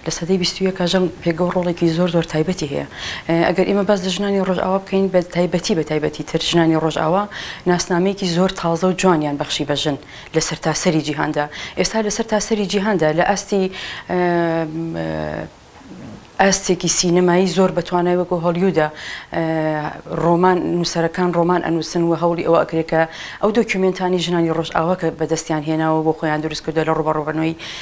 لە سەدەی بیست و یەکا ژن پێگە و ڕۆڵێکی زۆر زۆر تایبەتی هەیە. ئەگەر ئێمە باس لە ژنانی ڕۆژئاوا بکەین بە تایبەتی بە تایبەتی تر ژنانی ڕۆژئاوا ناسنامەیەکی زۆر تازە و جوانیان بەخشی بە ژن لە سەرتاسەری جیهاندا. ئێستا لە سەرتاسەری جیهاندا لە ئاستی ئاستێکی سینەمایی زۆر بە توانای وەکوو هۆلیوودا ڕۆمان نووسەرەکان ڕۆمان ئەنووسن و هەوڵی ئەوە ئەکرێ کە ئەو دۆکیومێنتانەی ژنانی ڕۆژئاوا کە بە دەستیان هێناوە بۆ خۆیان دروست کردووە لە ڕووبەڕووبنەوەی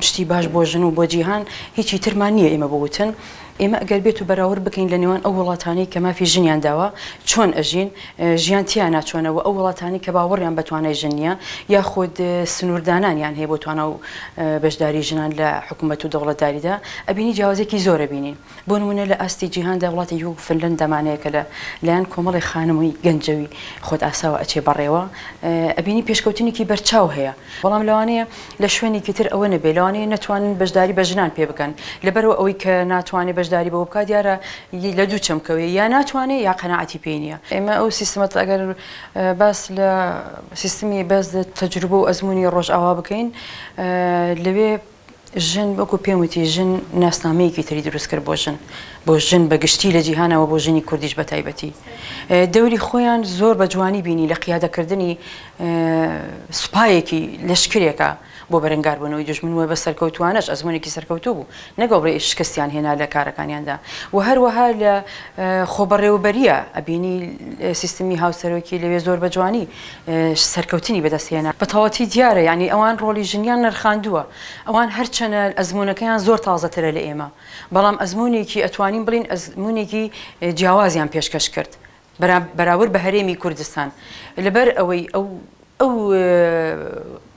شتی باش بۆ ژن و بۆ جیهان هیچی ترمان نییە ئێمە بوتن ئێمە ئەگەر بێت و بەراورد بکەین لە نێوان ئەو وڵاتانەی کە مافی ژنیان داوە چۆن ئەژین ژیان تیانا چۆنە و ئەو وڵاتانی کە باوەڕیان بە توانای ژن نییە یاخود سنووردانانیان هەیە بۆ توانا و بەشداری ژنان لە حکوومەت و دەوڵەتداریدا ئەبینی جیاوازێکی زۆر ئەبینین. بۆ نموونە لە ئاستی جیهاندا وڵاتێکی وەکو فنلەندا مانەیە کە لە لایەن کۆمەڵێ خانموی گەنجەوی خۆت ئاساوە ئەچێ بەڕێوە ئەبینی پێشکەوتنێکی بەرچاو هەیە بەڵام لەوانەیە لە شوێنێکی تر ئەوە نەبێ لەوانەیە نەتوانن بەشداری بە ژنان پێ بکەن لەبەرو ئەوەی کە ناتوانێ بەشداری بەوە بکات دیارە لە دوو چەمکەوەی یا ناتوانێ یا قەناعەتی پێی نییە ئێمە ئەو سیستمەت ئەگەر باس لە سیستمی بەس تەجروبە و ئەزمونی ڕۆژئاوا بکەین لەوێ ژن، وەکو پێم وتی ژن ناسنامەیەکی تری دروست کرد بۆ ژن، بۆ ژن بە گشتی لە جیهانەوە بۆ ژنی کوردیش بە تایبەتی. دەوری خۆیان زۆر بە جوانی بینی لە قیادە کردنی سوپایەکی، لەشکرێکا بۆ بەرەنگار بوونەوەی دوژمن و بە سەرکەوتووانەش ئەزموونێکی سەرکەوتوو بوو نەک ئەوڕێ شکستیان هێنا لە کارەکانیاندا و هەروەها لە خۆبەڕێوەبەریە ئەبینی سیستمی هاوسەرۆکی لەوێ زۆر بە جوانی سەرکەوتنی بەدەست هێنا. بە تەواوەتی دیارە یانی ئەوان ڕۆڵی ژنیان نرخاندووە، ئەوان هەرچەنە ئەزموونەکەیان زۆر تازەترە لە ئێمە، بەڵام ئەزموونێکی ئەتوانین بڵێین ئەزموونێکی جیاوازیان پێشکەش کرد بەرابر بە هەرێمی کوردستان لەبەر ئەوەی ئەو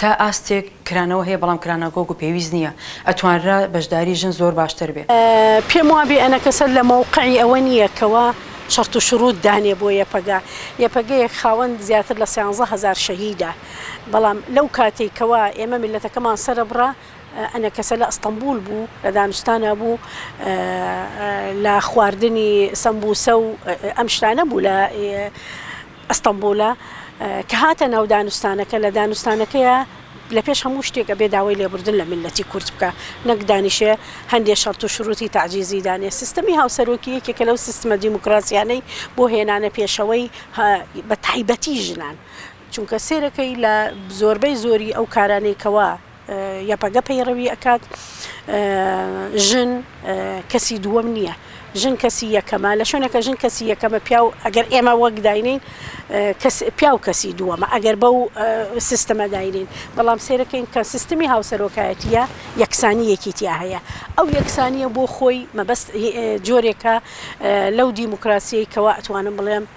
تا ئاستێک کرانەوە هەیە بەڵام کراناگۆگ و پێویست نییە ئەتوانرا بەشداری ژن زۆر باشتر بێ. پێم وابێ ئەنەکەسە لە مەوقعی ئەوە نییە کەوا شەرت و شرووت دانێ بۆ یەپەگە. یەپەگەیەک خاوەن زیاتر لە سیانزە هەزار شەهیدە. بەڵام لەو کاتەی کەوا ئێمە میللەتەکەمان سەرەبڕا ئەنەکەسە لە ئەستەنبوول بوو لە دانوستانا بوو لە خواردنی سەمبووسە و ئەم شتانە بوو لە ئەستەمبولە کە هاتە ناو دانوستانەکە لە دانوستانەکەیا لە پێش هەموو شتێک ئەبێ داوای لێبوردن لە میللەتی کورد بکا نەک دانیشێ هەندێ شەرت و شروتی تەعجیزی دانێ سیستەمی هاوسەرۆکی یەکێکە لەو سیستمە دیموکراسیانەی بۆ هێنانە پێشەوەی بە تایبەتی ژنان چونکە سێرەکەی لە زۆربەی زۆری ئەو کارانەی کەوا یەپەگە پەیڕەوی ئەکات ژن کەسی دووەم نییە ژن کەسی یەکەمە لە شوێنەکە ژن کەسی یەکەمە پیاو ئەگەر ئێمە وەک داینین پیاو کەسی دووەمە ئەگەر بەو سیستەمە داینین بەڵام سێرەکەین کە سیستمی هاوسەرۆکایەتیە یەکسانیەکی تیا هەیە ئەو یەکسانیە بۆ خۆی مەبەست جۆرێکە لەو دیموکراسیەی کەوا ئەتوانم بڵێم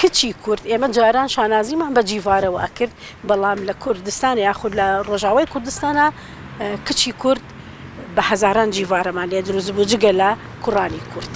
کچی کورد، ئێمە جاران شانازیمان بە جیڤارەوە ئەکرد، بەڵام لە کوردستان یاخود لە ڕۆژاوای کوردستانا کچی کورد بە هەزاران جیڤارەمان لێ دروست بوو جگە لە کوڕانی کورد.